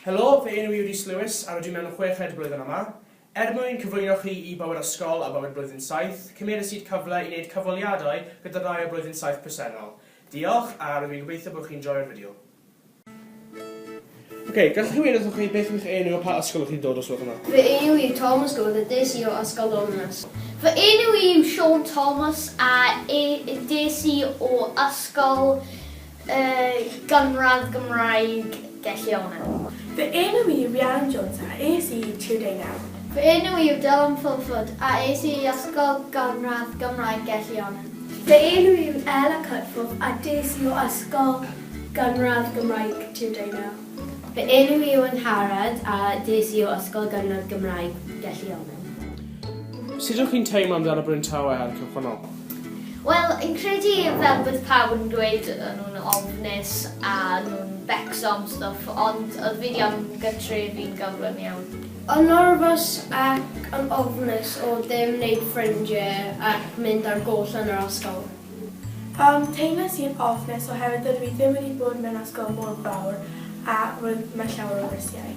Helo, fy enw i yw Rhys Lewis a rydw i mewn chweched blwyddyn yma. Er mwyn cyflwyno chi i bywyd ysgol a bywyd blwyddyn saith, cymeres i'r cyfle i wneud cyfweliadau gyda rhai o blwyddyn saith presennol. Diolch a rydw i'n gobeithio bod chi'n joio'r fideo. Ok, gallwch chi weud wrthoch chi beth yw'ch enw a pa ysgol ydych chi'n dod os gwelwch yn dda? Fy enw i yw Thomas Goad a des i o Ysgol Longmas. Fy enw i yw Siôn Thomas a des i o Ysgol Y gynradd Gymraeg gellir ei meddwl. Fy enw i yw Rhiannon Jones a es i i Tŷ Deunaw. Fy enw i yw Dylan Fulford a es i i ysgol gynradd Gymraeg gellir ei meddwl. Fy enw i yw Ella Cutforth a des i o ysgol gynradd Gymraeg Tŷ Deunaw. Fy enw i yw Angharad a des i o ysgol gynradd Gymraeg gellir ei meddwl. Sut ydych chi'n teimlo amdano Bryn Tawe ar y cychwynnol? Wel, fi'n credu fel bod pawb yn dweud o'n nhw'n ofnus a o'n nhw'n becso am stwff, ond oedd fi wedi anfon gytre fi'n gyflym iawn. O'n nyrfys ac yn ofnus o ddim wneud ffrindie ac mynd ar goll yn yr ysgol. Yym, teimlais i'n ofnus oherwydd dydw i ddim wedi bod mewn ysgol mor fawr a roedd yma llawer o rysiau.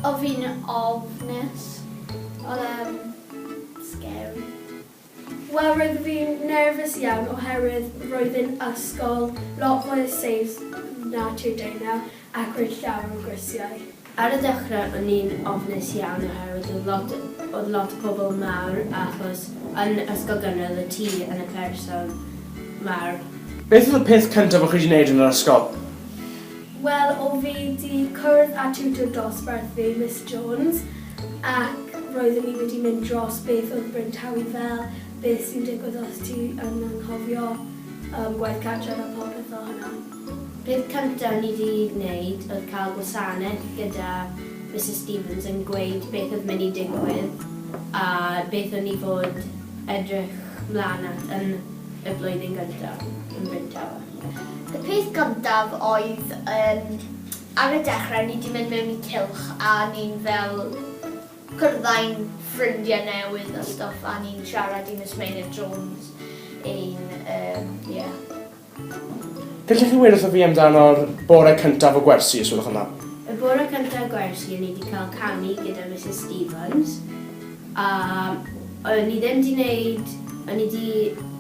Oedd fi'n ofnus, oedd e'n scary. Wel roedd fi'n nerfus iawn oherwydd roedd yn ysgol lot fwy o seis na Tŷ Dana ac roedd llawer o grisiau. Ar y dechrau o'n i'n ofnus iawn oherwydd oedd lot oedd lot o pobl mawr achos yn ysgol gynradd oedd ti yn y person mawr. Beth oedd y peth cyntaf o'ch chi 'di neud yn yr ysgol? Wel, o fi 'di cwrdd â tiwtor dosbarth fi, Miss Jones, ac roeddwn ni wedi mynd dros beth oedd bryntawy fel, beth sy'n digwydd os ti yn anghofio yym gwaith cartref a phopeth fel hwnna. Peth cynta o'n i 'di wneud oedd cael gwasanaeth gyda Misus Stevens yn gweud beth oedd mynd i digwydd a beth o'n i fod edrych mlan at yn y blwyddyn gynta yn Bryn Tawe. Y peth gyntaf oedd yym ar y dechre o'n i 'di mynd mewn i cylch a o'n i'n fel cwrddai'n ffrindie newydd a stwff a o'n i'n siarad i Miss Meinir Jones ein yym ie. Gellech chi weud wrtho fi amdano'r bore cyntaf o gwersi os gwelwch yn dda? Y bore cyntaf gwersi o'n i 'di ca'l canu gyda Misus Stevens a o'n i ddim 'di neud o'n i 'di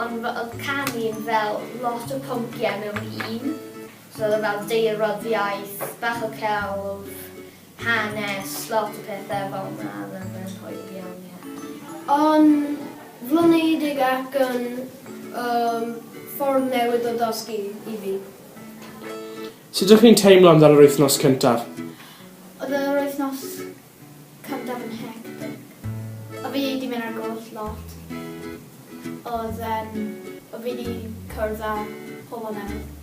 Ond fy oedd canu yn fel lot o pynciau mewn un. So oedd e fel daearyddiaeth, bach o celf, hanes, lot o pethau fel 'na oedd e'n yn hwyl iawn, ie. O'n flinedig ac yn yym ffordd newydd o dysgu i fi. Sut ydych chi'n teimlo amdan yr wythnos cyntaf? Oedd yr wythnos Cyntaf yn hectic. O' fi 'di mynd ar goll lot. O'dd yym o' fi 'di cwrdd â pobol newydd.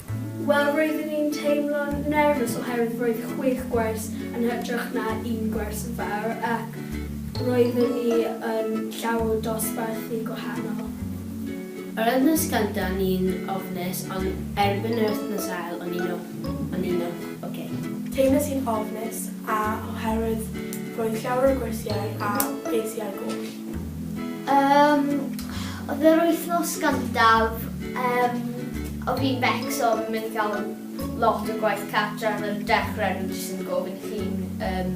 Wel roeddwn i'n teimlo'n nerfus oherwydd roedd chwech gwers yn hytrach na un gwers yn fawr ac roeddwn ni yn llawer o dosbarthu gwahanol. Yr wythnos gynta o'n i'n ofnus ond erbyn yr wythnos ail o'n i'n ofn o'n i'n ofn. Oce. Teimlais i'n ofnus a oherwydd roedd llawer o gwyrsiau a ges i ar goll. Yym oedd yr wythnos gyntaf yym o fi'n becso fi'n mynd i cael lot o gwaith cartra yn y dechre o'n i jyst yn gofyn i chi yym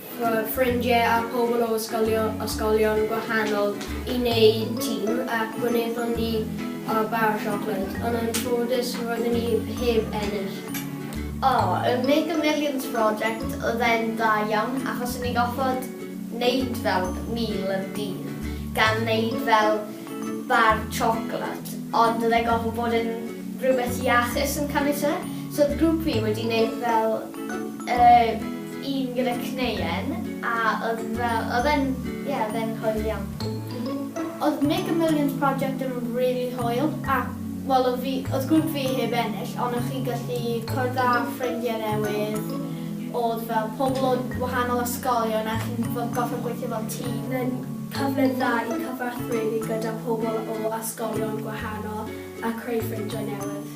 fy ffrindiau a pobl o ysgolion gwahanol i wneud tîm ac gwnaethon ni bar o siocled, ond yn ffodus roeddwn i heb ennill. O, y Mega Millions Project oedd e'n dda iawn achos o'n ni'n gorfod wneud fel mil yn dydd gan wneud fel bar siocled ond oedd e'n gorfod bod yn rhywbeth iachus yn caniatau. So oedd grŵp fi wedi wneud fel yy un gyda cneuen a oedd fel, oedd e'n, ie, oedd e'n hwyl iawn. Oedd Make a Millions Project yn rili hwyl a, wel, oedd fi, oedd grŵp fi heb ennill ond o'ch chi'n gallu cwrdd â ffrindiau newydd, oedd fel pobl o wahanol ysgolion a chi'n fel gorfod gweithio fel tîm. Oedd e'n cyfle dda i cyfathrebu gyda pobl o ysgolion gwahanol a creu ffrindiau newydd.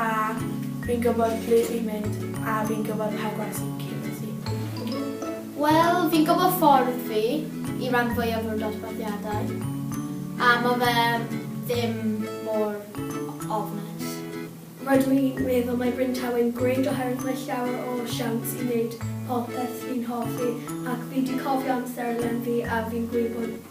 A fi'n gwybod ble fi'n mynd a fi'n gwybod pa gwaith sy'n cefnogi fi. Wel, fi'n gwybod ffordd fi i ran fwyaf o'r dosbarthiadau, a mae fe ddim mor ofnus. Rydw i'n meddwl mae Bryn Tawe'n great oherwydd mae llawer o siawns i wneud popeth fi'n hoffi ac fi 'di cofio amser len fi a fi'n gwybod